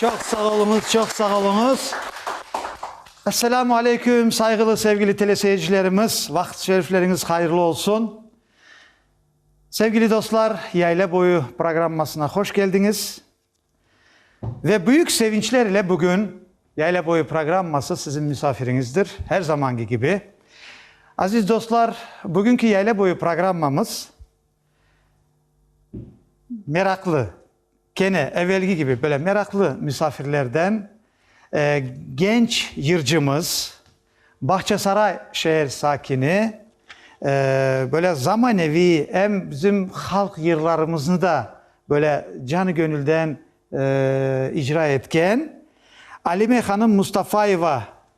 Çoq sağ oluñız, çoq sağ oluñız. Esselamu aleyküm, sayğılı, sevgili teleseyircilerimiz, vaqıt-şerifleriñiz hayırlı olsun. Sevgili dostlar, Yayla boyu programmasına hoş keldiñiz. Ve büyük sevinçler ile bugün Yayla boyu programması sizin müsafiriñizdir, her zamanki kibi. Aziz dostlar, bugünki Yayla boyu programmamız meraklı, Kene evelgi kibi, böyle meraqlı müsafirlerden genç yırcımız, Bağçasaray şeer sakini, böyle zamaneviy, em bizim halq yırlarımıznı da böyle canı-gönülden icra etken Alime hanım Mustafayeva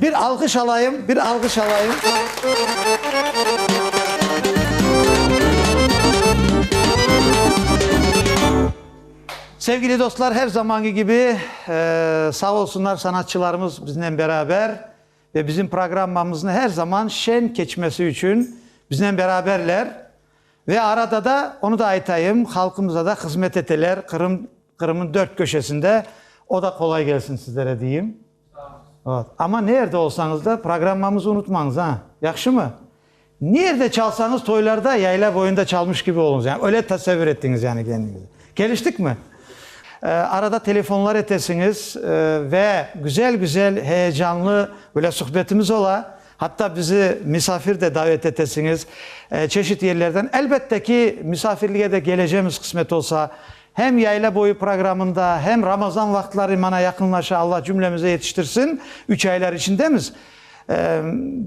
Bir alğış alayım, bir alğış alayım. Sevgili dostlar, her zamanki kibi, sağ olsunlar sanatçılarımız biznen beraber ve bizim programmamızın her zaman şen keçmesi için biznen beraberler. Ve arada da, onu da aytayım, halqımıza da hızmet eteler, Qırım, Qırım'ın dört köşesinde. O da qolay gelsin sizlere deyim. Amma nerde olsañız da, programmamızı unutmañız, a? Yahşımı? Nerde çalsañız, toylarda, yayla boyunda çalmış kibi oluñız, yani öyle tasavvür etiñiz, yani kendiñizni. Keliştikmi? Arada telefonlar etesiñiz ve güzel-güzel, heyecanlı böyle suhbetimiz ola. Hatta bizi misafir de davet etesiñiz, çeşit yerlerden. Elbette ki, misafirlige de kelecemiz, qısmet olsa. Hem yayla boyu programında, hem Ramazan vaqıtları mana yaqınlaşa, Alla cümlemize yetiştirsin, üç aylar içindemiz,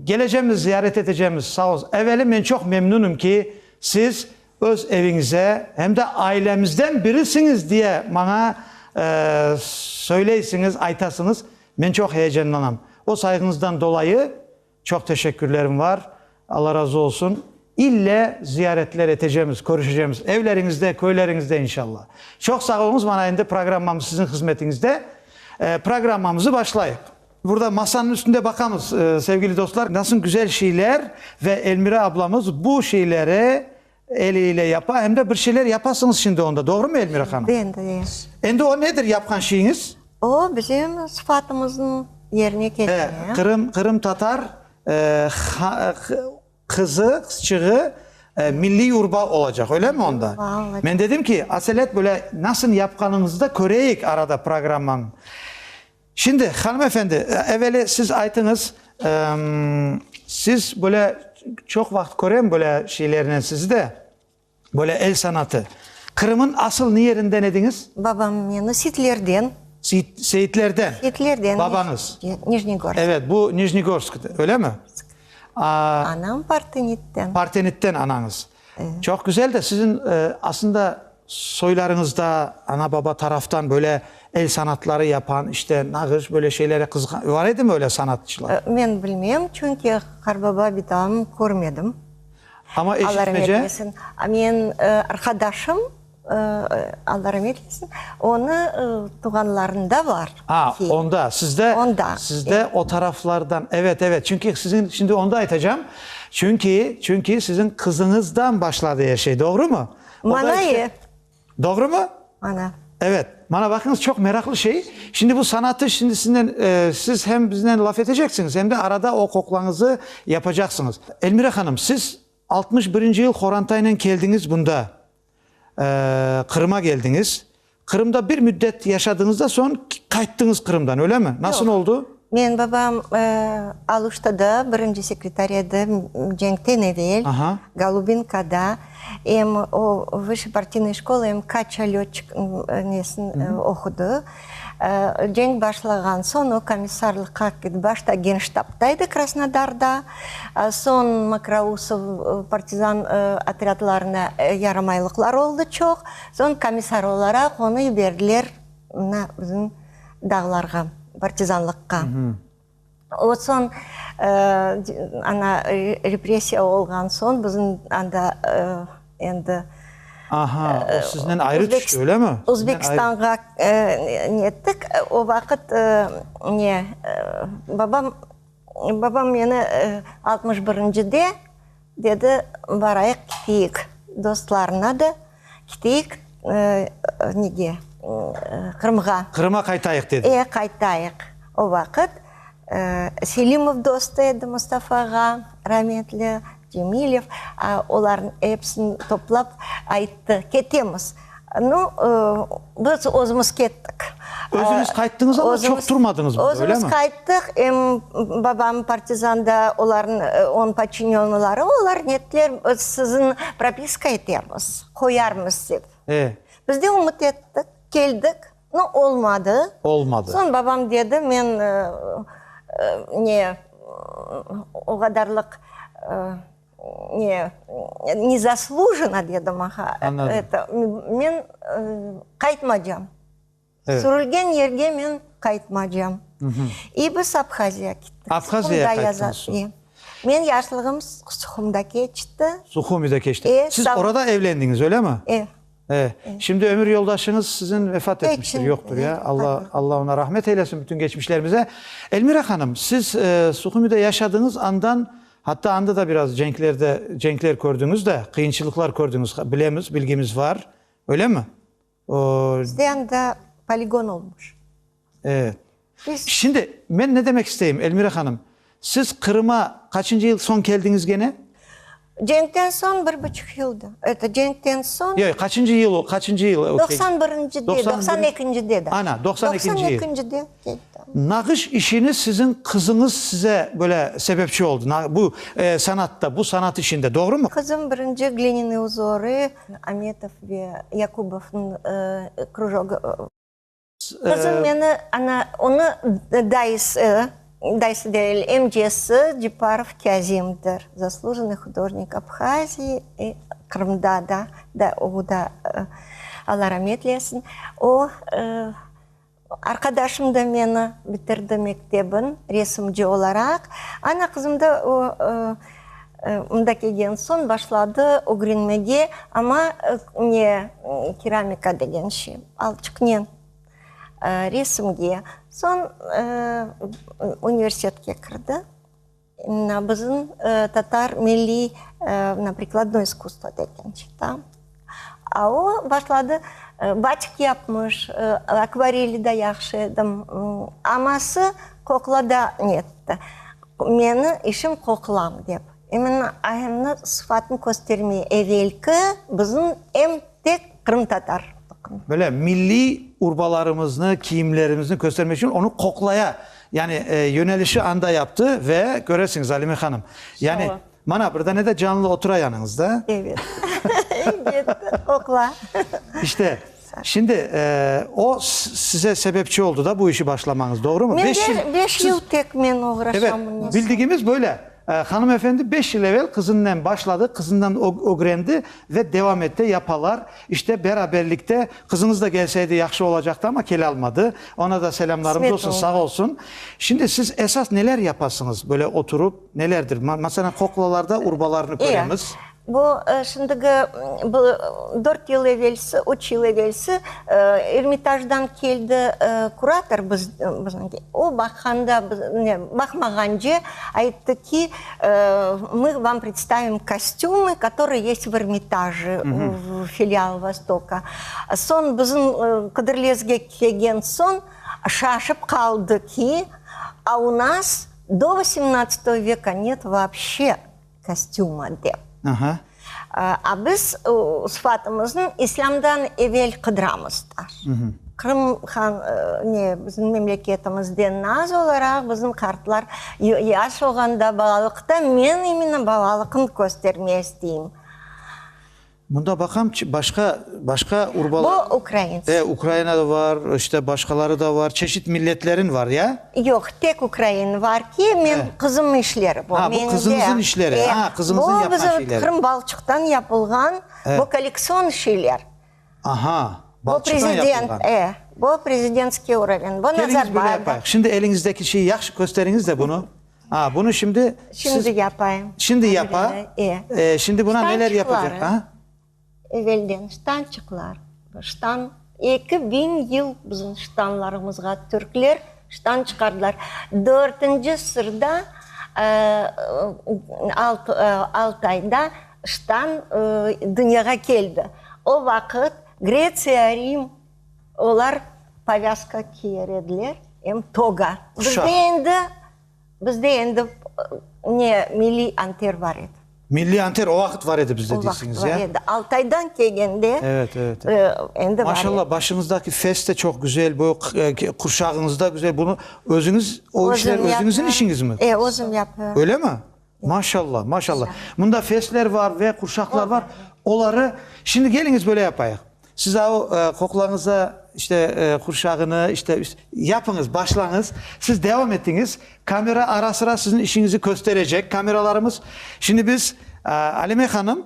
kelecemiz, ziyaret etecemiz, sağ olsun. Eveli men çoq memnunım ki, siz öz eviñize, hem de ailemizden birisiñiz diye maña söyleysiniz, aytasınız, men çoq heyecanlanam. O sayğıñızdan dolayı. Çoq teşekkürlerim var. Alla razı olsun. İlle ziyaretler etecemiz, körüşecemiz evleriñizde, köyleriñizde inşalla. Çoq sağ oluñız, mana endi programmamız siziñ hızmetiñizde. Programmamızı başlayıq. Burada masanıñ üstünde baqamız, sevgili dostlar, nasıl güzel şeyler ve Elmira ablamız bu şeyleri Eli ile yapa, em de bir şeyler yapasıñız şimdi onda, doğrumı, Elmira hanım? Endi, e. Endi o nedir yapqan şeyiñiz? O, bizim sıfatımıznıñ yerine ketirme. He, Qırım, qırımtatar, e, ha, qı, qızı, qızçığı, e, milliy urba olacaq, öylemi onda? Urba olacaq. Men dedim ki, aselet böyle nasıl yapqanıñızı da köreyik arada programmanıñ. Şimdi, hanım efendi, eveli siz aytıñız, siz böyle çoq vaqıt körem böyle şeylernen sizi de, böyle el sanatı. Qırım'ın asıl ne yerinden ediñiz? Babam meni Seyitlerden. Seyitlerden. Seyitlerden. Babañız. Nijnegorsk. Evet, bu Nijnegorsk, öyle mi? Anam Partenit'ten. Partenit'ten anañız. Çoq güzel de, siziñ aslında soylarıñızda ana-baba taraftan böyle el sanatları yapan, işte nağış, böyle şeylere qızıqan, var edimi öyle sanatçılar? Men bilmem, çünki qarbaba bitam körmedim. Amma eşitmece? Alar netmesin. Men, arqadaşım. Alla ramet etsin, onı tuğanlarında bar. A, onda, sizde, sizde o taraflardan, evet, evet, çünki siziñ, şimdi onu da aytacağım, çünki, çünki siziñ qızıñızdan başladı er şey, doğrumı? Mana ev. Doğrumı? Mana. Evet, mana baqıñız, çoq meraqlı şey, şimdi bu sanatı, şimdi siziñle, siz hem biznen laf eteceksiñiz, hem de arada o qoqlañızı yapacaqsıñız. Elmira hanım, siz altmış birinci yıl Horantaynen keldiñiz bunda, Qırıma keldiñiz. Qırımda bir müddet yaşadıñız da soñ qayttıñız Qırımdan, öylemi? Nasıl oldu? Yoq. Menim babam Aluştada birinci sekretar edi, cenkten evel, Golubinkada. Em o vışşıpartiynoye şkola, em kaçalötçik nesini oqudı. Cenk başlağan soñ o komissarlıqqa ketip, başta genştabda edi Krasnodarda, soñ Mokrousov partizan otrâdlarına yaramaylıqlar oldı çoq, soñ komissar olaraq onı yiberdiler mına bizim dağlarğa, partizanlıqqa. O soñ, ana, repressiya olğan soñ, bizim anda endi. Aha, o siznen ayrı tüşti, öylemi? Özbekistanğa nettik. O vaqıt ne, babam, babam meni altmış birincide Dedi, barayıq kiteyik dostlarına da, kiteyik nege, Qırımğa. Qırıma qaytayıq dedi. E, qaytayıq. O vaqıt Selimov dostu edi Mustafa ağa, rametli, Cemilev, olarnı epsini toplap ayttı, ketemiz. No, biz özümiz kettik. Özüniz qayttıñız ama çoq turmadıñız burada, öyle mi? Özümiz qayttıq, em babam partizanda, onıñ podçinennıları, olar netler, siziñ propiska etemiz, qoyarmız dep. E? Biz de ümüt ettik, keldik, no olmadı. Olmadı. Soñ babam dedi, men ne, o qadarlıq. Ne, nezaslujeno dedi maña. Men qaytmacam. Sürülgen yerge men qaytmacam. İ biz Abhaziya kettik. Abhaziya qayttınız soñ? Men yaşlığım Suhumda keçti. Suhumide keçti. Siz orada evlendiñiz, öyle mi? E. E. Şimdi ömür yoldaşıñız siziñ vefat etmiştir, yoqtur, ya. Alla oña rahmet eylesin, bütün geçmişlerimize. Elmira hanım, siz Suhumide yaşadıñız andan Hatta anda da biraz cenklerde, cenkler kördiñiz da, qıyınçılıqlar kördiñiz, bilemiz, bilgimiz var, öylemi? O. Bizde anda poligon olmuş. Evet. Biz. Şimdi men ne demek isteyim, Elmira hanım, siz Qırıma qaçıncı yıl soñ keldiñiz gene? Cenkten soñ bir buçuq yıldı. Eto, cenkten soñ. Yoy, qaçıncı yıl o, qaçıncı yıl o? Doqsan birincide, doqsan ekincide de. Ana, doqsan ekinci yıl. Doqsan ekincide. Nağış işini siziñ qızıñız size böyle sebepçi oldı, na, bu, e, sanatta, bu sanat işinde, doğrumı? Qızım birinci Glininiñ uzori, Ametov ve Yakubovnıñ, e, krujogı, e. Qızım meni, ana, onı dayısı, dayısı degil, emcesi Ceparov Kâzimdir, zaslujennıy hudojnik Abhaziyi, e, Qırımda da, da, o da, e, Allah rametlesin, o, e, Arqadaşım da meni bitirdi mektebin resimci olaraq. Ana qızım da o mında kelgen soñ başladı ögrenmege, amma ne keramika degen şey, alçıqnen resimge. Soñ universitetke kirdi. Bizim tatar milliy prikladnoy iskusstvo degen çıqtı. O başladı, batik yapmış, akvareli de yahşı edim. Aması qoqlada netti, meni işim qoqlam dep. İmенно ayımnı sıfatını köstermey evelki bizim em Tek qırımtatar tıqımı. Böyle milliy urbalarımıznı, kiyimlerimizni köstermek içün onı qoqlaya, yani yönelişi anda yaptı ve köresiñiz, Alime hanım, yani mana bir dane de canlı otura yanıñızda. Evet, ketti, qoqla. İşte, şimdi o size sebepçi oldu da bu işi başlamañız, doğrumu? Beş yıl tek men oğraşam bunıñ içün. Evet, bildigimiz böyle. Hanımefendi beş yıl evel qızınnen başladı, qızından ögrendi ve devam ette, yapalar, işte beraberlikte. Qızıñız da gelseydi yahşı olacaqtı, amma kele almadı. Ona da selâmlarımız olsun, sağ olsun. Şimdi siz esas neler yapasıñız, böyle oturup, nelerdir? Maselen, qoqlalarda urbalarnı köremiz. Eee, Bu, şimdiki, bu dört yıl evelsi, üç yıl evelsi Ermitajdan keldi kurator biziñki. O baqanda, baqmağance ayttı ki, mı vam predstavim kostümı, kötorie yest v Ermitaji, v filial Vostoka. Soñ bizim qidirlezge kelgen soñ şaşıp qaldı ki, a u nas do vosmnadstoy veka net voobshe. Kostüma dep. A biz sıfatımıznı İslâmdan evel qıdıramızlar. Qırım han, ne, bizim memleketimizde naz olaraq bizim qartlar yaş olğanda balalıqta, men iminı balalıqnı kösterme isteyim. Mında baqam, başqa, başqa urbalar. Bu ukraints. E, Ukraina da var, işte başqaları da var, çeşit milletlerin var, ya? Yoq, tek ukrain var ki, men, qızımnıñ işleri bu. Ha, bu qızıñızın işleri, ha, qızıñızın yapqan şeyleri. Bu bizim Qırım balçıqtan yapılğan, bu kolleksion şeyler. Aha, balçıqtan yapılğan. E, bu prezidentskiy uroven, bu Nazarbayev. Keliñiz, böyle yapayıq. Şimdi eliñizdeki şeyi yahşı kösteriñiz de bunı. A, bunı şimdi siz. Şimdi yapayım. Şimdi yapa. E. E, şimdi buna neler yapacaq? Ştançıqları. A? Evelden ştançıqlar. Ştan, eki biñ yıl bizim ştanlarımızğa türkler ştan çıqardılar. Dörtünci sırda, alt, Altayda ştan dünyağa keldi. O vaqıt Gretsiya, Rim. Olar povâzka kiyer ediler, em toga. Bizde endi, bizde endi ne, milliy anter bar edi. Milliy anter o vaqıt bar edi bizde deysiñiz, ya? O vaqıt bar edi. Altaydan kelgende endi bar. Maşallah, başıñızdaki fes de çoq güzel, bu qurşağıñız da güzel. Bunı özüñiz, o işler özüñizin işiñizmi? E, özüm yapıram. Öyle mi? Maşallah, maşallah. Mında fesler var ve qurşaqlar var. Oları, şimdi keliñiz böyle yapayıq. Siz a o qoqlañıza işte qurşağını işte üst, yapıñız, başlañız. Siz devam etiñiz. Kamera ara-sıra siziñ işiñizi kösterecek kameralarımız. Şimdi biz, Alime hanım,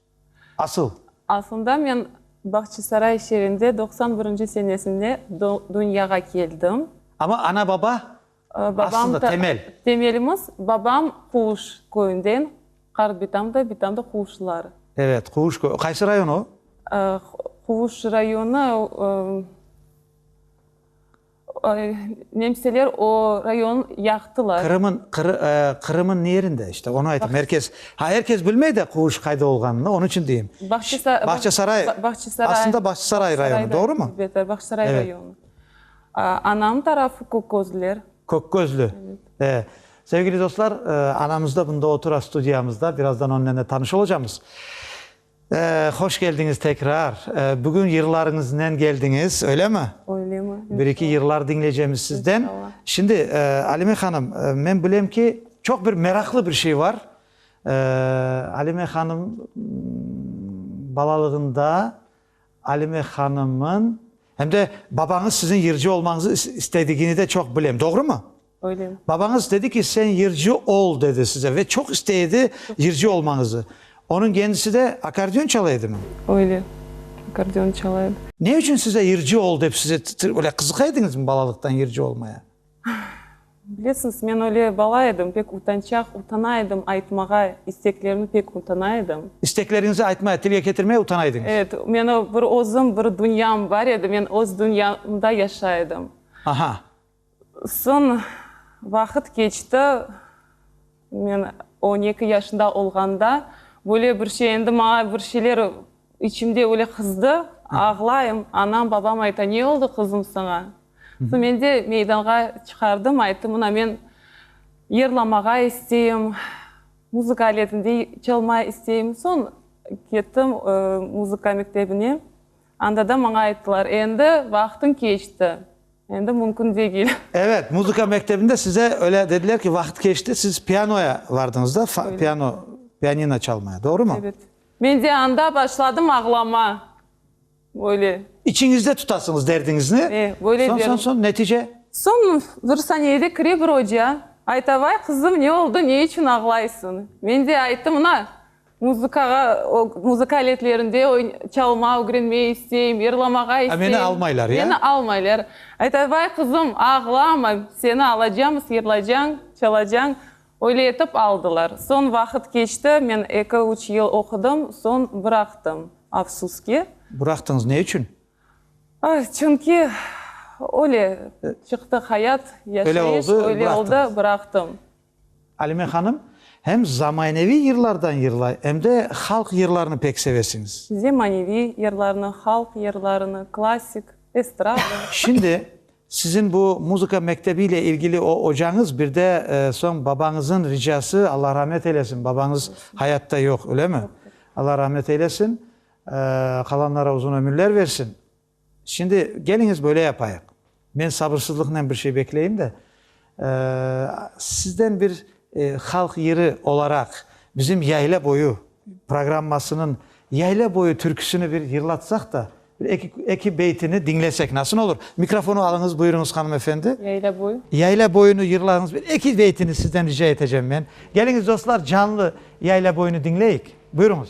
Asıl. Aslında men Bağçasaray şeerinde doqsan birinci senesinde dünyağa keldim. Amma ana-baba aslında temel. Temelimiz babam Quvuş köyünden, qart bitam da, bitam da Quvuşlılar. Evet, Quvuş köyü. Qaysı rayon o? Quvuş rayonı. Nemseler o rayon yaqtılar. Qırımın, Qırımın ne yerinde? İşte onı aytım, er kes, ha, er kes bilmey de quvuş qayda olğanını, onıñ içün deyim. Bağçasaray, aslında Bağçasaray rayonı, doğrumı? Elbette, Bağçasaray rayonı. Anam tarafı Kökgözlüler. Kökgözlü. Sevgili dostlar, anamız da bunda otura, studiyamızda, birazdan onıñnen de tanış olacağımız. Hoş keldiñiz tekrar. Bugün yırlarıñıznen keldiñiz, öylemi? Öylemi. Bir-iki yırlar diñlecemiz sizden. Şimdi, Alime hanım, men bilem ki, çoq bir meraqlı bir şey var. Alime hanım balalığında Alime hanımın, hem de babañız siziñ yırcı olmañızı istedigini de çoq bilem. Doğrumu? Babañız dedi ki, sen yırcı ol, dedi size ve çoq istey edi yırcı olmañızı. Onıñ kendisi de akordeon çala edimi? Öyle, akordeon çala edi. Ne içün size yırcı ol dep size öyle qızıqa ediñizmi balalıqtan yırcı olmaya? Bilesiñiz, men öyle bala edim, pek utançaq, utana edim aytmağa, isteklerimi pek utana edim. İstekleriñizi aytmaya, tilge ketirmeye utana ediñiz? Evet, meni bir özüm, bir dünyam bar edi, men öz dünyamda yaşa edim. Aha. Soñ vaqıt keçti, men on eki yaşında olğanda, böyle bir şey, endi maña bir şeyler içimde böyle qızdı, ağlayım, anam, babam ayta, ne oldı, qızım, saña? Soñ men de meydanğa çıqardım, ayttım, mına men yırlamağa isteyim, muzıka aletinde çalma isteyim. Soñ kettim muzıka mektebine. Anda da maña ayttılar, endi vaqtıñ keçti, endi mümkün degil. Evet, muzıka mektebinde size öyle dediler ki, vaqıt keçti, siz pianoya vardıñız da, piano, pianino çalmaya, doğrumı? Evet. Men de anda başladım ağlama, böyle. İçiñizde tutasıñız derdiñizni. E, böyle Soñ, soñ, soñ, netice? Soñ bir saniyede kire bir oca, ayta, vay, qızım, ne oldı, ne içün ağlaysıñ? Men de ayttım, mına, Muzıkağa, muzıka aletlerinde çalma ögrenmey isteyim, yırlamağa isteyim. Meni almaylar, ya? Meni almaylar. Ayta, vay, qızım, ağlama, seni alacamız, yırlacañ, çalacañ. Öyle etip aldılar. Soñ vaqıt keçti, men eki-üç yıl oqudım, soñ bıraqtım, afsus ki. Bıraqtıñız, ne içün? Çünki öyle çıqtı hayat, yaşayış, öyle oldı, bıraqtım. Alime hanım, hem zamaneviy yırlardan yırlay, em de halq yırlarını pek sevesiñiz. Zemaneviy yırlarını, halq yırlarını, klassik, estrada. Şimdi, siziñ bu muzıka mektebi ile ilgili o ocañız, bir de soñ babañızıñ ricası, Allah rahmet eylesin, babañız hayatta yoq, öylemi? Allah rahmet eylesin, qalanlara uzun ömürler versin. Şimdi, keliñiz böyle yapayıq. Men sabırsızlıqnen bir şey bekleyim de, sizden bir halq yırı olaraq bizim Yayla boyu programmasınıñ Yayla boyu türküsini bir yırlatsaq da, bir eki, eki beytini diñlesek nasıl olur? Mikrofonı alıñız, buyurıñız, hanım efendi. Yayla boyu. Yayla boyunı yırlañız, bir eki beytini sizden rica eteceğim men. Keliñiz, dostlar, canlı Yayla boyunı diñleyik. Buyurıñız.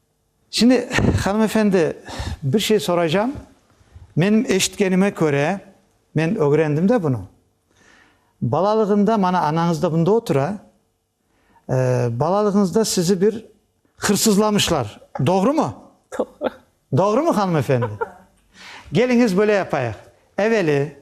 Şimdi, hanımefendi, bir şey soraycam. Menim eşitkenime köre, men ögrendim de bunı, balalığında, mana anañız da bunda otura, balalığıñızda sizi bir hırsızlamışlar, doğrumı? Doğru. Doğrumı, hanımefendi? Keliñiz, böyle yapayıq, eveli,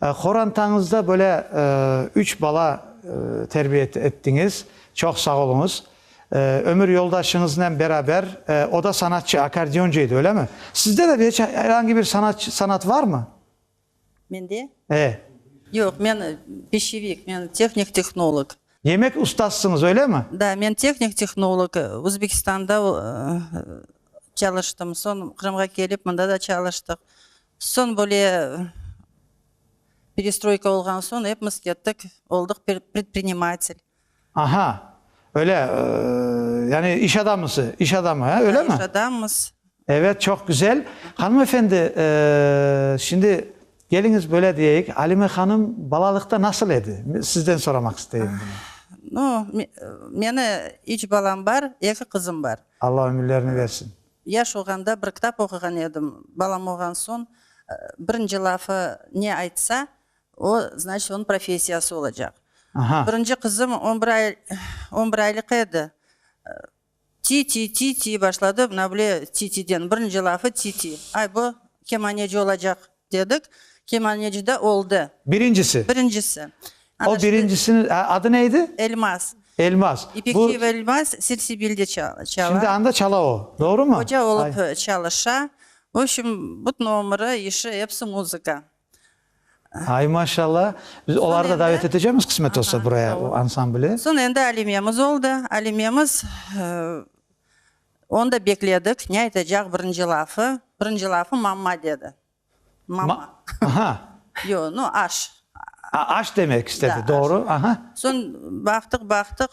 Qorantañızda böyle üç bala terbiye ettiñiz, çoq sağ oluñız. Ömür yoldaşıñıznen beraber, o da sanatçı, akkordeoncu edi, öylemi? Sizde de beç er angi bir sanat, sanat varmı? Mende? E. Yoq, men peşevik, men tehnik tehnolog. Demek, ustasıñız, öylemi? Da, men tehnik tehnolog, Özbekistanda çalıştım, soñ Qırımğa kelip, mında da çalıştıq. Soñ böyle perestroyka olğan soñ epmiz kettik, oldıq predprinimatelь. Aha, öyle, yani iş adamısı, iş adamı, he, öyle mi? Ha, iş adamımız. Evet, çoq güzel. Hanım efendi, şimdi keliñiz böyle diyeyik, Alime hanım balalıqta nasıl edi? Sizden soramaq isteyim bunu. No, meni üç balam bar, eki qızım bar. Allah ömürlerini versin. Yaş olğanda bir kitap oquğan edim, balam olğan soñ birinci lafı ne aytsa, o, znaçit, onıñ professiyası olacaq. Birinci qızım on bir ay, on bir aylıq edi, ti-ti, ti-ti başladı, mına bile ti-tiden, birinci lafı ti-ti. Ay, bu kemaneci olacaq, Dedik, kemanecide oldı. Birincisi. Birincisi. O birincisini, adı ne edi? Elmaz. Elmaz. Bu. İpekçiyev Elmaz Sirsibilde çala. Şimdi anda çala o, doğru mu? Hoca olıp çalışa. Vobşim, bütün ömürü, işi hepsi muzıka. Ay, maşalla. Biz oları da davet etecemiz, qısmet olsa, buraya, o ansambli. Soñ endi Alimemiz oldı. Alimemiz. Onda bekledik, ne aytacaq birinci lafı, birinci lafı mamma dedi. Mamma. Aha. Yoq, no, aş. A, aş demek istedi, Da, doğru. aş. Aha. Soñ baqtıq, baqtıq,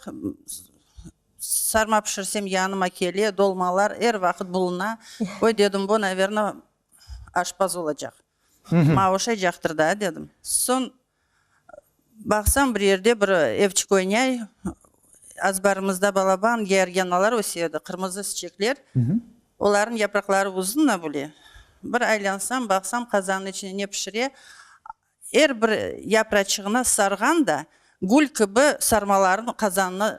sarma pişirsem yanıma kele, dolmalar er vaqıt buluna. Oy dedim, bu, naverno, aşpaz olacaq. Mavuşaycaqtır da, dedim. Soñ baqsam, bir yerde bir evçik oynay, azbarımızda balaban, georgianalar öse edi, qırmızı çiçekler. Olarnıñ yapraqları uzun na böyle. Bir aylansam, baqsam, qazannıñ içine ne pişire, er bir yapraçığına sarğan da, gül kibi sarmalarnı qazannıñ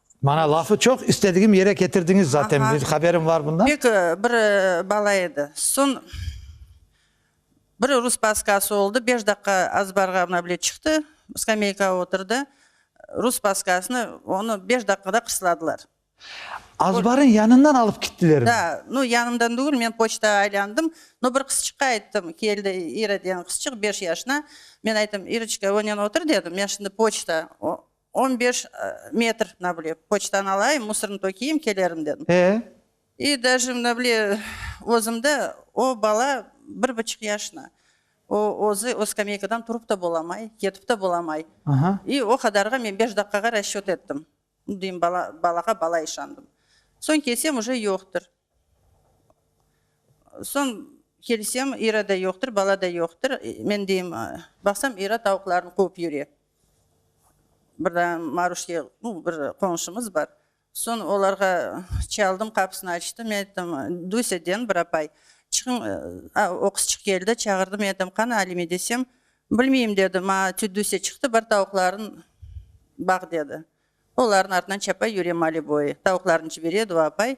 Mana lafı çoq istedigim yere ketirdiñiz zaten, benim haberim var bundan. Pek bir bala edi. Soñ bir rus paskası oldı, beş daqiqa azbarğa mına bile çıqtı, skameykağa oturdı, rus paskasını onı beş daqiqada qısladılar. Azbarıñ yanından alıp kittilermi? Da, no yanımdan degil, men poçta aylandım, no bir qızçıqqa ayttım, keldi İra degen qızçıq, beş yaşına, men ayttım, İroçka, önen otur dedim, men şimdi poçta On beş metr, mına bile, poçtanı alayım, musornı tökeyim, kelerim, dedim. E? İ daje, mına bile, özümde, o bala bir buçuq yaşına, o özü o skameyka'dan turıp ta bolamay, ketip ta bolamay. Aha. İ o qadarğa men beş daqqağa raşçöt ettim. Nu, deyim, bala, balağa bala işandım. Soñ kelsem, uje yoqtır. Soñ kelsem, İra da yoqtır, bala da yoqtır. Men deyim, baqsam, İra tavuqlarnı quvıp yüre. Bir daa Maruşke, bir qoñşumız bar, soñ olarğa çaldım, qapısını açtı, men ayttım, Duysâ deñ bir apay, çıqıñ, a o qız çıqıp keldi, çağırdı, men ayttım, qani Alime desem, bilmeyim dedi, maña tüt Duysâ çıqtı, bar tavuqlarıñ baq dedi, olarnıñ artından çapa yüre maliboy, tavuqlarıñ jiberedi o apay,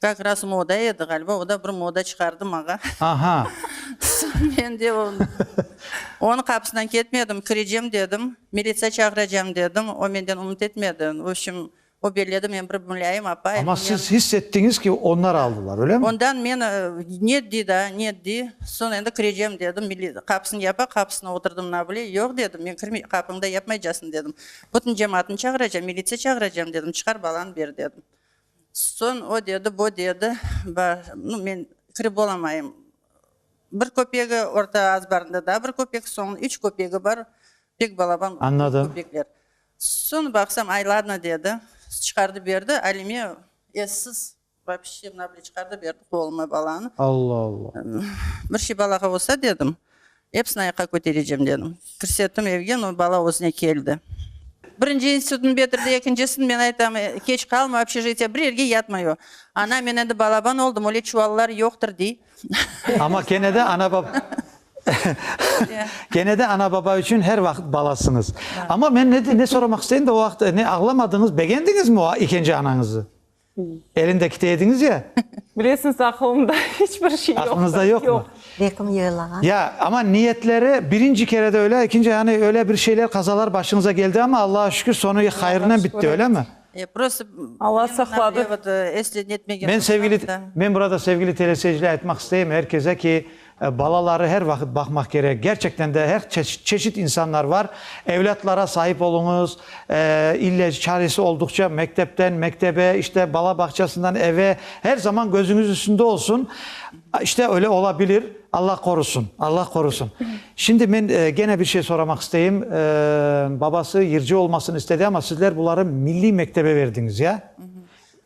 Kak ras moda edi, ğaliba, o da bir moda çıqardı maña. Aha! Soñ men de onıñ qapısından ketmedim, kirecem dedim, militsiya çağıracam dedim, o menden ümüt etmedi. V opşim, o belledi, men bir Mulâyim apa. Amma siz hiss ettiñiz ki, onlar aldılar, öylemi? Ondan men, net diy da, net diy. Soñ endi kirecem dedim, qapısını yapa, qapısına oturdım na bile. Yoq dedim, men kirmey, qapıñda yapmaycasıñ dedim. Bütün cemaatnı çağıracam, militsiya çağıracam dedim, çıqar balanı ber dedim. Soñ o dedi, bo dedi, ba, nu, men kirip olamayım. Bir köpegi, orta azbarında daa bir köpek, soñ üç köpegi bar, pek balaban köpekler. Soñ baqsam, ay, ladno, dedi, çıqardı berdi, Alime essiz, vapshe, mına bile çıqardı berdi, qolıma balanı. Alla-alla! Bir şey balağa olsa, dedim. Epsini ayaqqa köterecem, dedim. Kirsettim evge, no bala özüne keldi. Birinci institutnı bitirdi, ekincisin, men aytam, keç qalma, obşežitiye bir yerge yatmay o. Ana, men endi balaban oldım, öyle çuvallar yoqtır, dey. Amma kene de ana-baba, kene de ana-baba içün her vaqıt balasıñız. Amma men ne soramaq isteyim de, o vaqıt ne ağlamadıñız, begendiñizmi o ikinci anañızı? Elinde kite ediñiz ya? Bilesiñiz, aqılımda iç bir şey yoqtır. Aqılıñızda yoqmı? Bekim yoylağa. Ya, amma niyetleri birinci kerede öyle, ikinci, yani öyle bir şeyler, qazalar başıñıza geldi, amma Allağa şükür, soñu hayırnen bitti, öylemi? E, prosto, Allah saqladı. Men sevgili, men burada sevgili teleseyirciler aytmaq isteyim, er keze ki, Balaları her vaqıt baqmaq kerek. Gerçekten de her çeşit insanlar var. Evlâtlara sahip oluñız, ilec, çaresi olduqça mektepten mektebe, işte bala bağçasından eve, her zaman gözüñiz üstünde olsun. İşte öyle ola bilir, Allah qorusın, Allah qorusın. Şimdi men gene bir şey soramaq isteyim. Babası yırcı olmasını istedi ama sizler buları milliy mektebe berdiñiz, ya?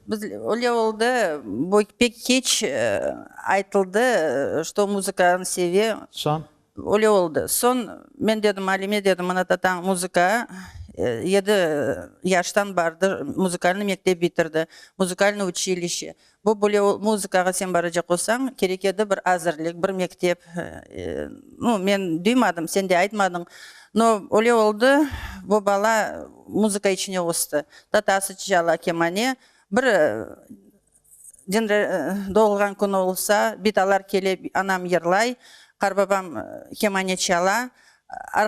Biz, öyle oldı, bu pek keç aytıldı, çto muzıkanı seve. Soñ? Öyle oldı. Soñ men dedim Alime, dedim, mına tatañ muzıka yedi yaştan bardır, muzıkalnıy mektep bitirdi, muzıkalnıy uçilişe. Bu böyle, muzıkağa sen baracaq olsañ, kerek edi bir azırlik, bir mektep. Nu, men duymadım, sen de aytmadıñ. No, öyle oldı, bu bala muzıka içine östi. Tatası çala kemane, bir din doğulğan künü olsa, bidalar kele, anam yırlay, qarbabam kemane çala,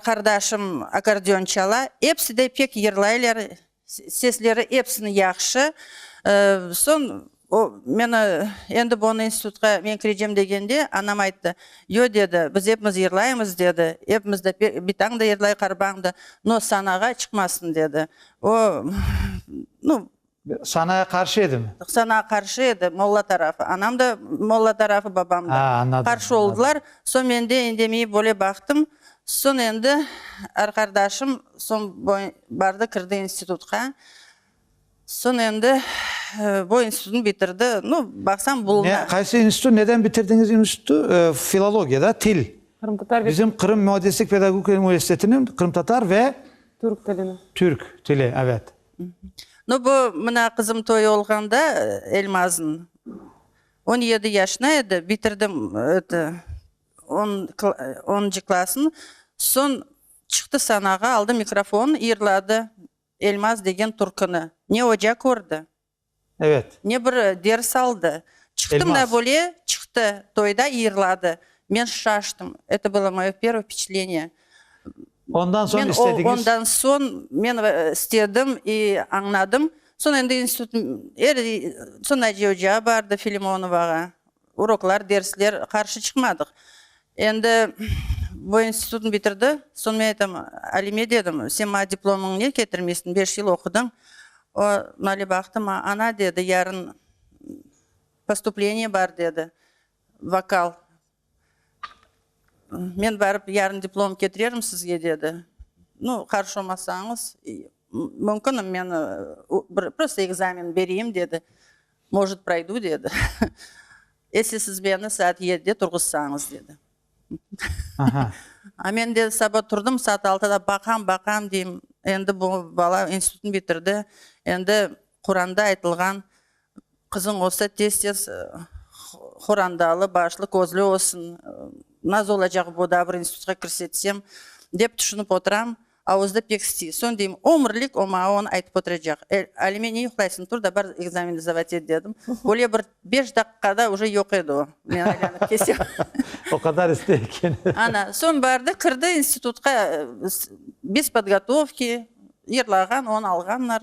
qardaşım akordeon çala, epsi de pek yırlaylar, sesleri epsiniñ yahşı. Soñ O, meni, endi boni institutqa men kirecem degende, anam ayttı, Yo, dedi, biz epimiz yırlaymız, dedi, epimiz de, bitañ da yırlay, qarbañ da, no sanağa çıqmasın, dedi. O, nu. Sanağa qarşı edimi? Sanağa qarşı edi, molla tarafı. Anam da molla tarafı, babam da. A, añladım. Qarşı oldılar. Soñ men de indemey böyle baqtım. Soñ endi, er qardaşım, soñ bardı, kirdi institutqa. Soñ endi bu institutnı bitirdi. Nu, baqsañ, bulunı. Ne, qaysı institut, neden bitirdiñiz institutı? Filologiya, da, til. Qırımtatar ve. Bizim Qırım müeddislik pedagogika universitetiniñ qırımtatar ve. Türk tilini. Türk tili, evet. Nu, bu, mına, qızım toyu olğanda, Elmaznıñ, on yedi yaşına edi, bitirdi, eto, on, onuncı klassnı. Soñ çıqtı sanağa, aldı mikrofon, yırladı. Elmaz degen turkını ne oca kördi, Evet. ne bir ders aldı. Çıqtım da Elmaz. böyle çıqtı, toyda yırladı. Men şaştım. Eto bılo moye pervo vpeçatleniye. Ondan soñ Men o, istediñiz? ondan soñ men ıı, istedim i añladım. Soñ endi institut, er, soñ Naciye ocağa bardı, Filimonovağa. Uroklar, dersler, qarşı çıqmadıq. Endi bu institutnı bitirdi. Soñ men aytam, Alime dedim, sen maña diplomıñnı ne ketirmeysin, beş yıl oqudıñ. O, male baqtı maña, Ana, dedi, yarın postupleniye bar, dedi, vokal. Men barıp yarın diplomımnı ketirerim sizge, dedi. Nu, qarşı olmasañız, mümkün, men bir prosto ekzamen bereyim, dedi. Может, proydu, dedi. Esi siz meni saat yedide turğuzsañız, dedi. A men de saba turdım, saat altıda baqam, baqam, deyim, endi bu bala institutnı bitirdi, endi Quranda aytılğan, Qızıñ olsa, tez-tez horandalı, başlı, közlü olsun, naz olacaq bu, da bir institutqa kirse, desem, dep tüşünip oturam. Avuzda pek sti. Soñ deyim, ömürlik o maña onı aytıp oturacaq. E, Alime, ne yuqlaysıñ, tur da bar ekzamenni zdavat et, dedim. Böyle bir beş daqiqada уже yoq edi o. Men aylanıp kelsem. O qadar istey eken. Ana, soñ bardı, kirdi institutqa, bez podgotovki, yırlağan, on alğanlar.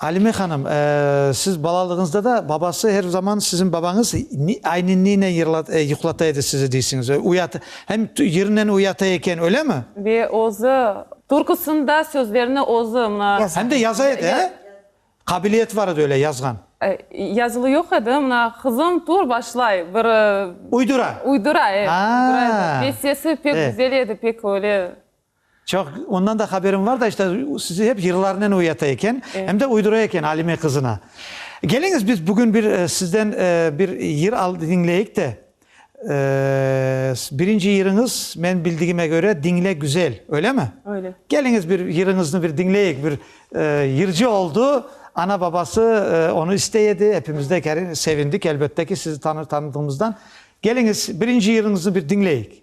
Alime hanım, siz balalığıñızda da babası her zaman siziñ babañız aynen neynen yuqlata edi sizi deysiñiz? Uyat, hem yırınen uyata eken, öylemi? Ve özü, türküsini da, sözlerini özü, mına. Hem de yaza edi, he? Qabiliyeti bar edi öyle, yazğan. Yazılı yoq edi, mına, qızım, tur, başlay, bir. Uydura. Uydura, evet, uydura edi. Ve sesi pek güzel edi, pek öyle. Çoq, ondan da haberim var da, işte, sizi hep yırlarınen uyata eken, em de uydura eken Alime qızına. Keliñiz, biz bugün bir sizden bir yır diñleyik de, birinci yırıñız, menim bildigime köre, Diñle, güzel, öylemi? Öyle. Keliñiz, bir yırıñıznı bir diñleyik, bir yırcı oldu, ana-babası onı istey edi, epimiz de sevindik, elbette ki, sizi tanıdığımızdan. Keliñiz, birinci yırıñıznı bir diñleyik.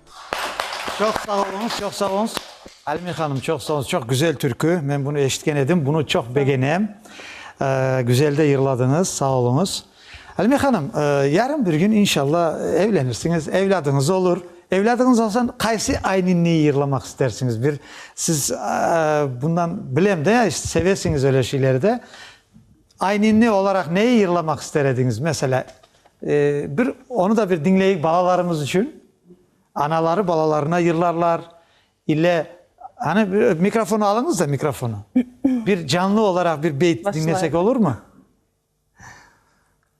Çoq sağ oluñız, çoq sağ oluñız. Alime hanım, çoq sağ oluñız. Çoq güzel türkü. Men bunı eşitken edim. Bunı çoq begenem. Güzel de yırladıñız. Sağ oluñız. Alime hanım, yarın bir kün, inşalla, evlenirsiñiz, evladıñız olur. Evladıñız olsa, qaysı ayninniyi yırlamaq istersiñiz? Bir siz bundan, bilem de, sevesiñiz öyle şeyleri de. Ayninni olaraq neyi yırlamaq ister ediñiz? Meselâ, bir onı da bir diñleyik balalarımız içün. Anaları balalarına yırlarlar, ile, anı bir mikrofon alıñız da, mikrofonu. Bir canlı olaraq bir beyt diñlesek olurmı?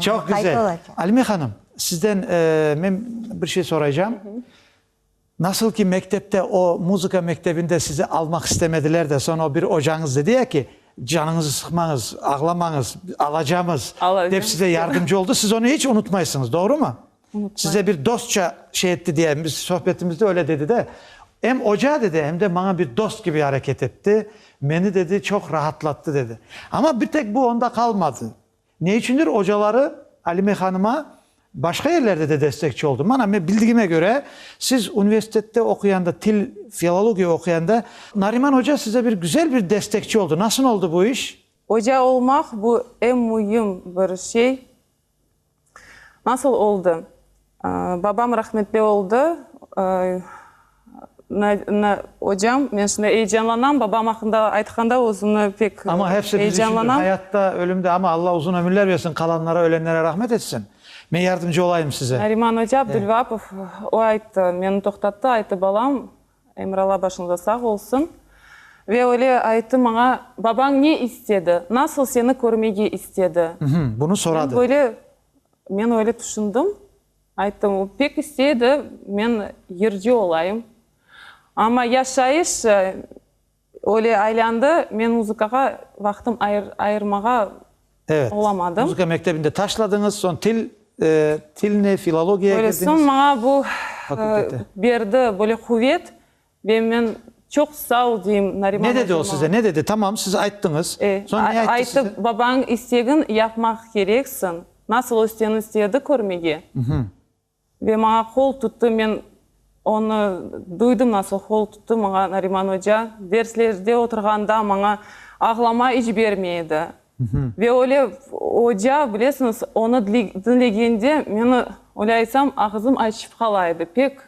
Çoq güzel. Alime hanım, sizden men bir şey soraycam. Nasıl ki, mektepte o muzıka mektebinde sizi almaq istemediler de, soñ o bir ocañız dedi ya ki, canıñızı sıqmañız, ağlamañız, alacamız, dep size yardımcı oldı, siz onı iç unutmaysıñız, doğrumı? Size bir dostça şey etti diye, biz sohbetimizde öyle dedi de, em oca dedi, em de maña bir dost kibi areket etti, meni dedi çoq rahatlattı dedi. Amma bir tek bu onda qalmadı. Ne içündir ocaları Alime hanıma başqa yerlerde de destekçi oldı. Mana, men bildigime köre, siz universitette oquyanda, til, filologiya oquyanda, Nariman oca size bir güzel bir destekçi oldı. Nasıl oldı bu iş? Oca olmaq, bu, em müim bir şey. Nasıl oldı? Babam rahmetli oldı. Ocam, men şimdi eyecanlanam, babam aqqında aytqanda özümni pek eyecanlanam. Amma hepsi biz içün bir hayatta, ölümde, amma Alla uzun ömürler bersin, qalanlara, ölenlere rahmet etsin. Men yardımcı olayım size. Nariman oca Abdülvapov, o ayttı, meni toqtattı, ayttı, balam, Emiralla başınızda sağ olsun. Ve öyle ayttı maña, babañ ne istedi, nasıl seni körmege istedi? Bunı soradı. Men böyle Men öyle tüşündim. Ayttım, o pek isteydi, men yırcı olayım. Amma yaşayış öyle aylandı, men muzıkağa vaqtım ayırmağa Evet, olamadım. muzıka mektebinde taşladıñız, soñ til, tilne, filologiya Böyle, soñ maña bu Fakültete. berdi böyle quvet, Ve men, Çoq sağ ol, deyim Nariman Ne dedi o size, ne dedi? Tamam, siz ayttıñız. E, Soñ ne ayttı size? aytıp, babañıñ istegin yapmaq kereksiñ. Nasıl o seni istedi körmege? Ve maña qol tuttı, men onı duydım, nasıl qol tuttı maña Nariman oca. Derslerde oturğanda maña ağlama iç bermey edi. Ve öyle oca, bilesiñiz, onı dinlegende meni, öyle aytsam, ağızım açıp qala edi, pek.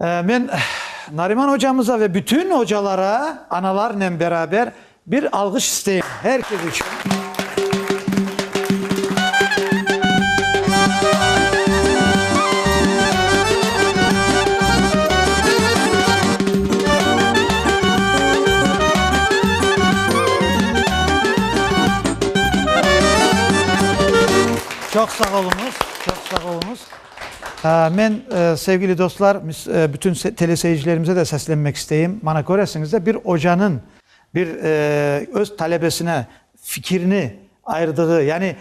Men Nariman ocamıza ve bütün ocalara analarnen beraber bir alğış isteyim, her kes içün. Çoq sağ oluñız, çoq sağ oluñız. Men, sevgili dostlar, bütün teleseyircilerimize de seslenmek isteyim. Bana köresiñiz de, bir ocanıñ bir öz talebesine fikirini ayırdığı, yani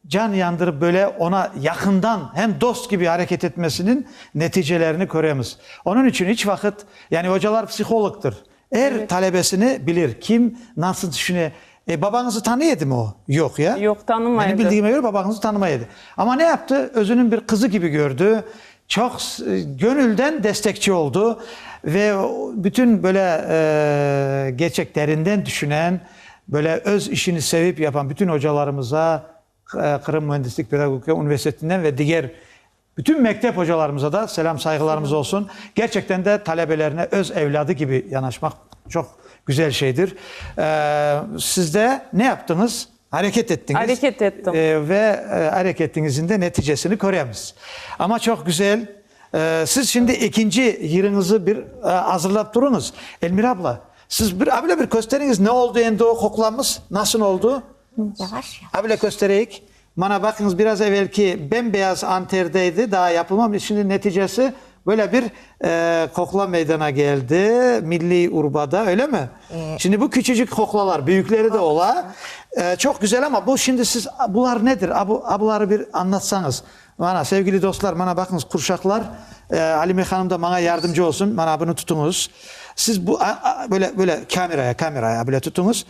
can yandırıp böyle ona yaqından, hem dost kibi areket etmesiniñ neticelerini köremiz. Onıñ içün iç vaqıt, yani ocalar psihologtır, Er talebesini bilir, kim nasıl tüşüne. E, babañızı tanıy edimi o? Yoq, ya? Yoq, tanımay edi. Menim bildiğime göre babañızı tanımay edi. Amma ne yaptı? Özüniñ bir qızı kibi kördi, çoq köñülden destekçi oldu ve bütün böyle gerçek terinden tüşünen, böyle öz işini sevip yapan bütün ocalarımıza, Qırım müendislik pedagogika universitetinden ve diger Bütün mektep ocalarımıza da selâm-sayğılarımız olsun. Gerçekten de talebelerine öz evladı kibi yanaşmaq çoq güzel şeydir. Siz de ne yaptıñız? Areket ettiñiz. Areket ettim. Ve areketiñizin de neticesini köremiz. Amma çoq güzel. Siz şimdi ekinci yırıñızı bir azırlap turıñız. Elmira abla, siz bir, böyle bir kösteriñiz, ne oldu endi o quklamız, nasıl oldu? Yavaş, yavaş. Able köstereyik. Mana baqıñız, biraz evelki bembeyaz anterde edi, daa yapılmamış. Şimdi neticesi böyle bir qoqla meydana keldi, milliy urbada, öylemi? Şimdi bu küçücük qoqlalar, büyükleri de ola. Çoq güzel, amma bu şimdi siz, bular nedir? A, bu, a, buları bir anlatsañız. Mana, sevgili dostlar, mana baqıñız, qurşaqlar, Alime hanım da maña yardımcı olsun, mana bunı tutuñız. Siz bu, böyle, böyle, kameraya, kameraya böyle tutuñız.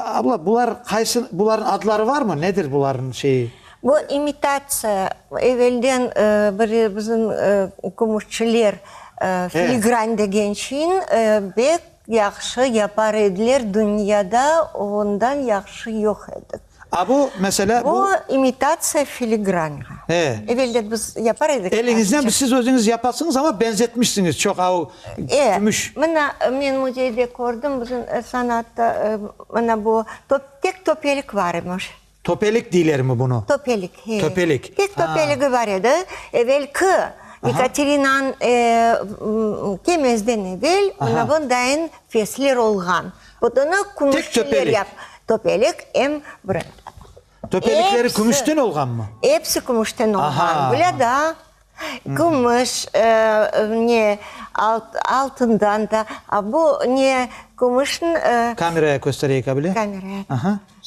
Abla, bular qaysı, bularnıñ adları varmı? Nedir bularnıñ şeyi? Bu imitatsiya, evelden bir bizim kümüşçiler filigran degen şeyni bek yahşı yapar ediler, dünyada ondan yahşı yoq edi. A, bu, mesela, bu. Bu imitatsiya filigranğa. E. Evelden biz yapar edik. Eliñizden biz, siz özüñiz yapasıñız, amma benzetmişsiñiz çoq, a o kümüş. E, mına, men müzeyde kördim, bizim sanatta, mına bu, tek töpelik bar imiş. Töpelik deylermi bunı? Töpelik, he. Töpelik, a. Tek töpeligi bar edi. Evelki Yekaterinanıñ kemezden evel, mına bundayin fesler olğan. Odunı kümüşçiler yap. Töpelik em bır. Töpelikleri kümüşten olğanmı? Epsi kümüşten olğan. Bile da kümüş, ne, altından da. A bu ne, kümüşniñ. Kameraya köstereyik, a bile? Kameraya.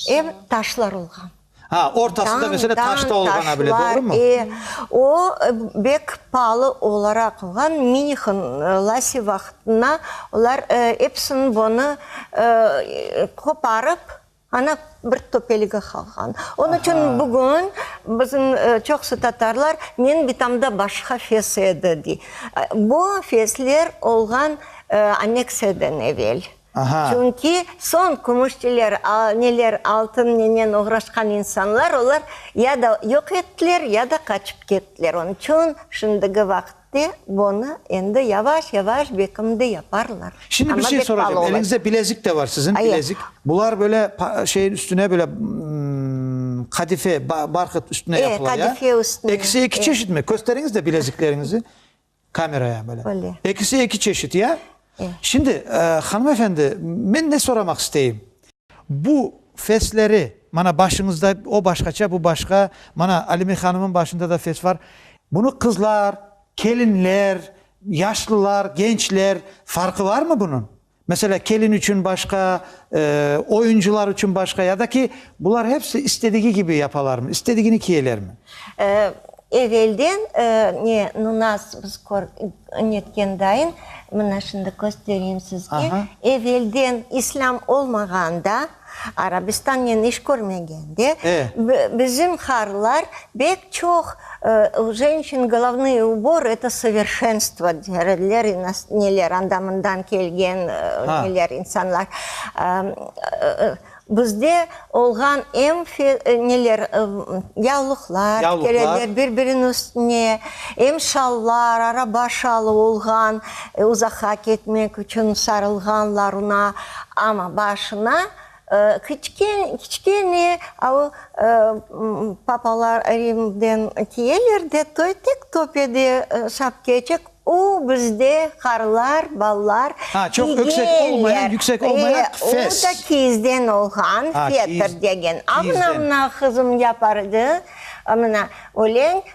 Em taşlar olğan. Ha, ortası da mesela taşta olğana bile, doğrumı? Tañ, tañ, taşlar, e, o bek paalı olaraq olğan, Minixin lasi vaqtına olar epsini bunı qoparıp, ana bir töpelige qalğan. Onı içün bugün bizim çoqusı tatarlar Meñ bitamda başqa fes edi, dey. Bu fesler olğan anneksiyeden evel. Çünki soñ kümüşçiler, neler, altın nenen oğraşqan insanlar, olar ya da yoq ettiler, ya da qaçıp kettiler. Onıñ içün şimdiki vaqıtte bunı endi yavaş-yavaş bekimde yaparlar. Şimdi bir şey soracağım, eliñizde bilezik de bar siziñ, bilezik. Bular böyle şeyin üstüne böyle qadife, barhıt üstüne yapıla ya? Qadife üstüne. Ekisi eki çeşit mi? Kösteriñiz de bilezikleriñizi. Kamera, ya, böyle. Böyle. Ekisi eki çeşit, ya? E. Şimdi, hanım efendi, men ne soramaq isteyim? Bu fesleri, mana, başıñızda o başqaça, bu başqa, mana, Alime hanımnıñ başında da fes var. Bunı qızlar, kelinler, yaşlılar, gençler, farqı varmı bunıñ? Meselâ, kelin içün başqa, oyuncılar içün başqa ya da ki, bular hepsi istedigi kibi yapalarmı, istedigini kiyelermi? Evelden, ne, nu nas, biz kör, netkendayın, mına şimdi köstereyim sizge. Evelden, islâm olmağanda, Arabistannen iş körmegen de, bizim harlar bek çoq u jenşin glavnıy ubor eto soverşenstvo der ediler, neler anda-mundan kelgen neler insanlar. Bizde olğan em neler yavluqlar tikerediler bir-biriniñ üstüne, em şallar, araba şalı olğan Uzaqa ketmek içün sarılğanlarına, amma başına kiçkene papalar Rimden keyeler de, toy tek töpede sapkecik, u bizde qarlar, ballar igeler, o da kiyizden olğan, fetr degen, amına mına qızım yapardı, mına, öleñ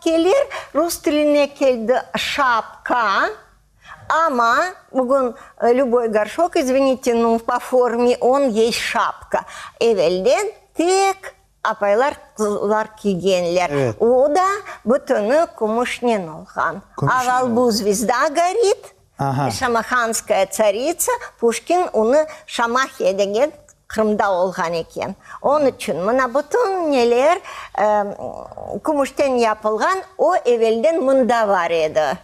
Kelir, rus tiline keldi şapka, amma bugün lüboy gorşok, izvenite, nu, po formi on yey şapka. Evelden tek apaylar, qızlar kiygenler, o da bütüni kümüşnen olğan. Aval bu, zvezda gorit. Şamahanskaya tsaritsa, Puşkin onı Şamahiya degen Qırımda olğan eken. Onı içün mına bütün neler kümüşten yapılğan, o evelden mında bar edi.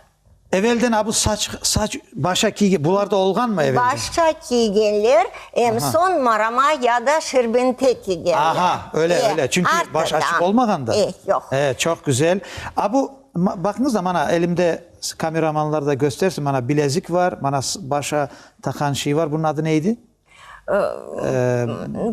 Evelden a bu saç, saç, başa kiyge, bular da olğanmı evelden? Başa kiygenler em soñ marama ya da şerbente kiygenler. Aha, öyle, öyle. Çünki baş açıq olmağanda. E, yoq. E, çoq güzel. A bu Baqıñız da, mana, elimde, kameramanlar da köstersin, mana, bilezik var, mana, başa taqan şey var, bunıñ adı ne edi?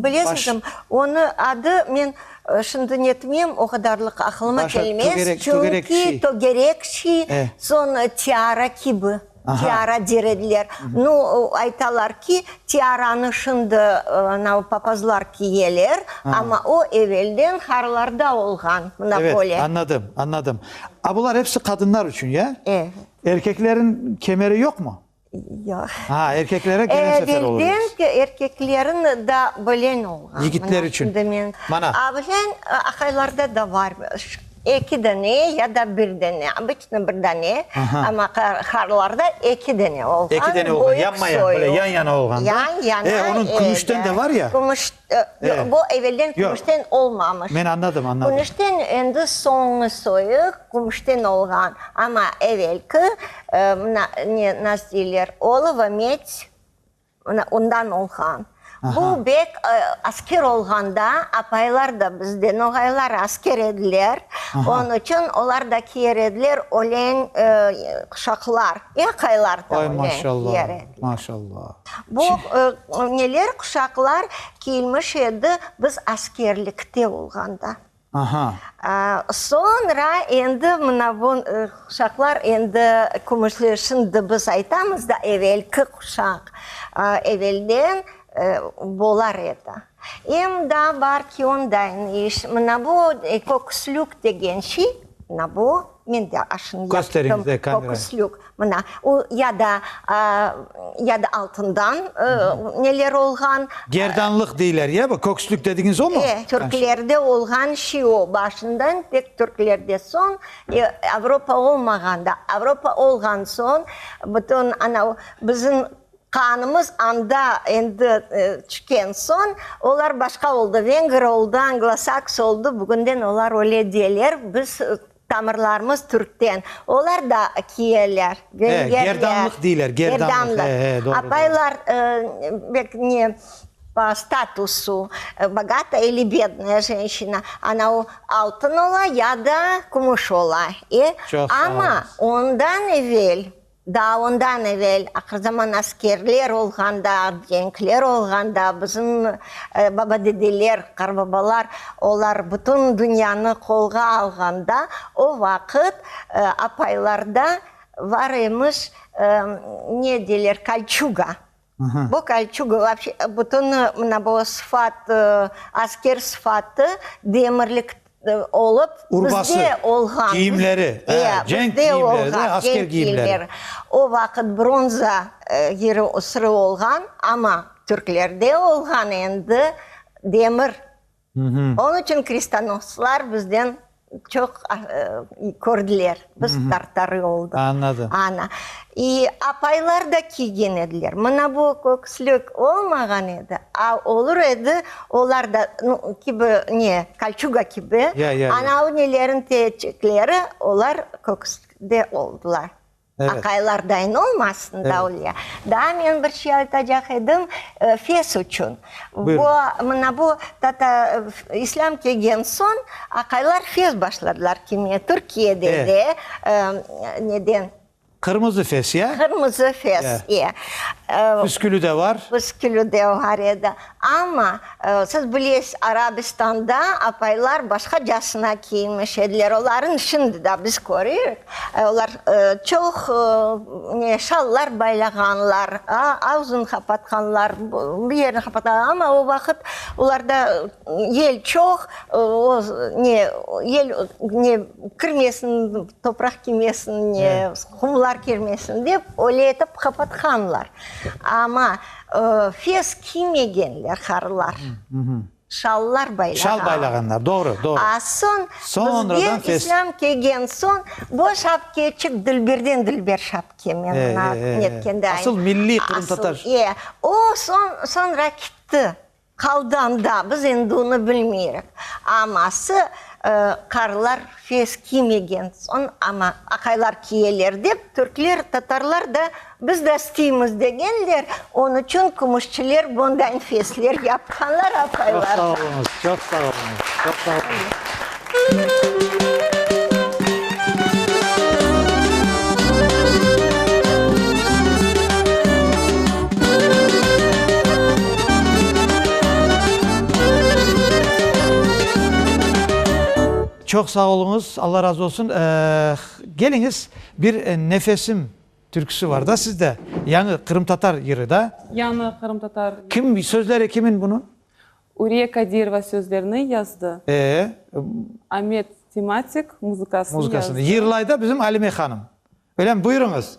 Bilesizmi, onıñ adı, men şimdi netmeyim, o qadarlıq aqılıma kelmez, çünki tögerek şey, soñ tiara kibi. Tiara derediler. Nu, aytalar ki, tiaranı şimdi anav papazlar kiyeler, amma o evelden harlarda olğan, mına böyle. Evet, añladım, añladım. A bular episi qadınlar içün, ya? Evet. Erkekleriñ kemeri yoqmı? Yoq. Ha, erkeklere gene sefer olur. Evelden erkekleriñ da böyle olğan. Yigitler içün. Mana. Abilen aqaylarda da bar. Eki dane ya da bir dane, obıçnı bir dane, amma harlarda eki dane olğan. Eki dane olğan, yanma-yan, böyle yan-yana olğan. Yan-yana, eki. E, onıñ kümüşten de var ya? Kümüş, yoq, bu evelden kümüşten olmamış. Men añladım, añladım. Kümüşten endi soñu soyuq, kümüşten olğan, amma evelki, mına ne, nas deyler, olova, medь. Mına, ondan olğan. Bu bek asker olğanda, apaylar da bizde, noğaylar asker ediler, onıñ içün olar da kiyer ediler öleñ quşaqlar, aqaylar da öleñ kiyer ediler. Bu neler quşaqlar kiyilmiş edi biz askerlikte olğanda. Soñra endi mına bu quşaqlar endi kümüşli, şimdi biz aytamız da, evelki quşaq, evelden bolar edi. Em da bar ki, onday iş. Mına bu köküslük degen şey, mına bu. Men de aşını yaptım, fokuslük, mına, o ya da, ya da altından neler olğan. Gerdanlıq deyler ya bu, kökslük dedigiñiz omu? E, türklerde olğan şey o, başından tek türklerde, soñ Avropa olmağanda, Avropa olğan soñ bütün anav, bizim. Qanımız anda endi tüşken soñ, olar başqa oldı, venger oldı, anglosaks oldı, bugünden olar öyle deyeler, biz tamırlarımız türkten, olar da kiyeler, vengerler. He, gerdanlıq deyler, gerdanlıq, he, he, doğru. Apaylar, bek ne, po statusu, bogata ili bednaya jenşina, ana o altın ola ya da kümüş ola, e, amma ondan evel, Daa ondan evel aqırzaman askerler olğanda, cenkler olğanda bizim babadedeler, qarbabalar olar bütün dünyanı qolğa alğanda o vaqıt apaylarda var emiş, ne deyler, kolçuga. Bu Kolçug vapşe bütün mına bu sıfat, asker sıfatı Demirlik olıp, bizde olğan. Kiyimleri, ya, cenk kiyimleri de, asker kiyimleri. O vaqıt bronza yeri sırı olğan, amma Türklerde olğan endi demir. Onıñ içün kristanoslar bizden çoq kördiler, biz tartarı oldıq. Añladım. Ana. İ apaylar da kiygen ediler. Mına bu köküslük olmağan edi, a olur edi, olar da kibi ne, kolçuga kibi. Ya, ya, ya. Ana o neleriñ etekleri, olar köküslükte oldılar. Aqaylardayn olmasın Davlya. Daa men bir şey aytacaq edim, fes içün. Bu, mına bu tata, islâm kelgen soñ aqaylar fes başladılar kiymeye. Türkiyede de, neden. Qırmızı fes, ya? Qırmızı fes, ya. Püskülü de var. Püskülü de var edi. Amma, siz bilesiz, Arabistanda apaylar başqacasına kiyinmiş ediler, olarnı şimdi da biz körüyik, olar çoq ne şallar baylağanlar, ağzını qapatqanlar, bir yerini qapatqanlar, amma o vaqıt olarda yel çoq, o ne yel ne kirmesin, topraq kirmesin, ne qumlar kirmesin dep, öyle etip qapatqanlar. Amma. Fes kiymegenler, harılar, şallar baylağanlar. A soñ bizge islâm kelgen soñ, bu şapkeçik dilberden dilber şapke, men netkende ayt. Asıl milliy qırımtatar. O soñra kitti. Qaldan da, biz endi onı bilmeyrik. Aması, qarlar fes kiymegen soñ ama aqaylar kiyeler dep, türkler, tatarlar da, biz de isteymiz degenler, onı içün kümüşçiler bundañ fesler yapqanlar, aqaylar. Çoq sağ oluñız, çoq sağ oluñız, çoq sağ oluñız. Çoq sağ oluñız, Alla razı olsun. Keliñiz, bir Nefesim türküsi var da sizde, yañı qırımtatar yırı da. Yañı qırımtatar. Kim, sözleri kimin bunıñ? Uriye Kadirova sözlerini yazdı. Ee. Amet Timatik muzıkasını yazdı. Muzıkasını yırlay da bizim Alime hanım. Öylemi? Buyurıñız.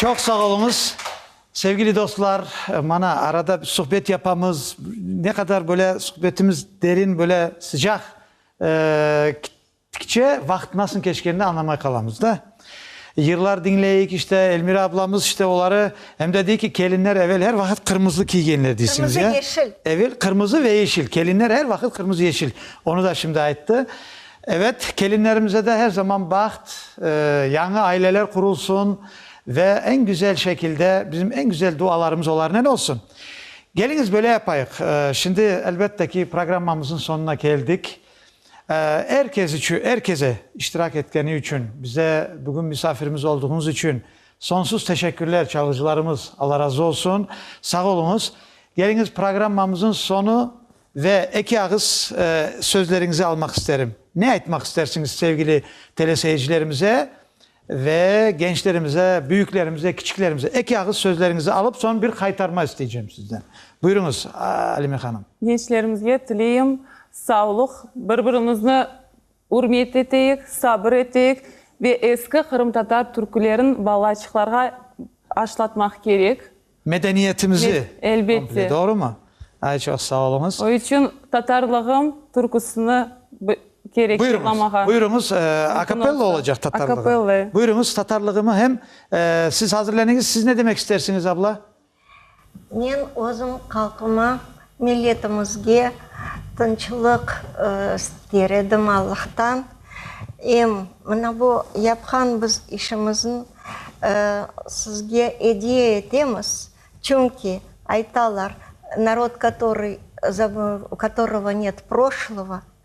Çoq sağ oluñız. Sevgili dostlar, mana arada suhbet yapamız. Ne qadar böyle suhbetimiz derin, böyle sıcaq. Tikçe vaqıt nasıl keçkenini añlamay qalamız da. Yırlar diñleyik, işte, Elmira ablamız, işte, oları, em de dey ki, kelinler evel er vaqıt qırmızı kiygenler deysiñiz, ya? Qırmızı, yeşil. Evel qırmızı ve yeşil. Kelinler er vaqıt qırmızı, yeşil. Onı da şimdi ayttı. Evet, kelinlerimize de her zaman baht, yañı aileler qurulsun ve eñ güzel şekilde, bizim eñ güzel dualarımız olarnen olsun. Keliñiz, böyle yapayıq. Şimdi, elbette ki, programmamızın sonuna keldik. Er kes içün, er kese iştirak etkeni içün, bize bugün misafirimiz olduğuñız içün sonsuz teşekkürler çalğıcılarımız, Alla razı olsun, sağ oluñız. Geliñiz programmamızın sonu ve eki ağız sözleriñizi almaq isterim. Ne aytmaq istersiñiz sevgili teleseyircilerimize Ve gençlerimize, büyüklerimize, kiçiklerimize, eki ağız sözleriñizi alıp, soñ bir qaytarma isteycem sizden. Buyuruñız, Alime hanım. Gençlerimizge tileyim, savlıq, bir-birimizni ürmet eteyik, sabır eteyik ve eski qırımtatar türkülerin balaçıqlarğa aşlatmaq kerek. Medeniyetimizi komple, doğrumı? Ay, çoq sağ oluñız. O içün Tatarlığım türküsini kerek yoqlamağa. Buyuruñız, akapella olacaq Tatarlığım. Buyuruñız, Tatarlığımı hem siz hazırleniñiz. Siz ne demek istersiñiz, abla? Men özüm halqıma Milletimizge tınçlıq ister edim Allahtan. Em mına bu yapqan biz işimizin sizge ediye etemiz, çünki aytalar, narod, katorıy, u katorıgo net proşlovo.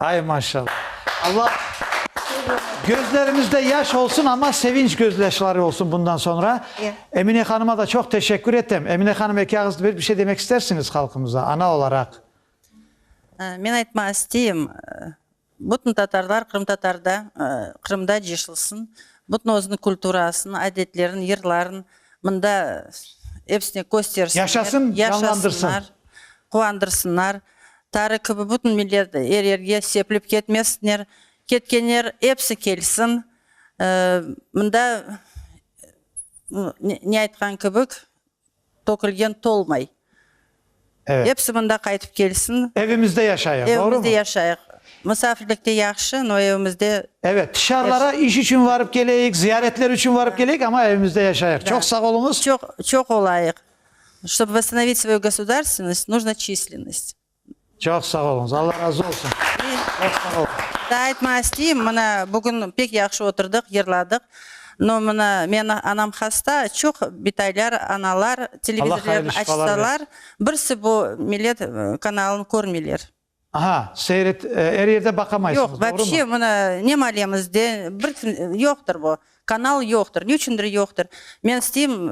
Ay maşallah. Allah gözlerimizde yaş olsun ama sevinç gözyaşları olsun bundan sonra. Emine hanıma da çok teşekkür etem. Emine hanım eki ağız bir şey demek istersiñiz halkımıza ana olaraq? Men aytmaq isteyim, bütün tatarlar qırımtatarda, Qırımda ceşilsin, bütün özüniñ kulturasını, adetlerin, yırların mında epsine köstersinler, yaşasınlar, quvandırsınlar. Tarı kibi bütün millet er yerge sepilip ketmesinler, ketkenler episi kelsin, mında ne aytqan kibik tökülgen tolmay, episi mında qaytıp kelsin. Evimizde yaşayıq, doğru mu? Evimizde yaşayıq. Misafirlikte yahşı, no evimizde. Evet, tışarılara iş içün varıp keleyik, ziyaretler içün varıp keleyik, amma evimizde yaşayıq. Çoq sağ oluñız. Çoq, çoq olayıq. Ştob vostanovit svoyu gosudarstvennost, nujno çislennost. Çoq sağ oluñız, Alla razı olsun! Çoq sağ oluñız! Daa aytmaq isteyim, mına, bugün pek yahşı oturdıq, yırladıq, no, mına, meni anam hasta, çoq bitaylar, analar televizorlarını açsalar, birsi bu millet kanalını körmeyler. Aha, seyret, er yerde baqamaysıñız, doğrumı? Yoq, vapşe, mına, ne malemiz de, bir, yoqtır bu, kanal yoqtır, ne içündir yoqtır. Men isteyim,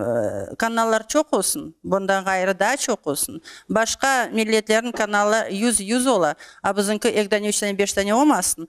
kanallar çoq olsun, bundan ğayrı daa çoq olsun. Başqa milletlerniñ kanalı yüz, yüz ola, a, bizimki eki dane, üç dane, beş dane olmasın.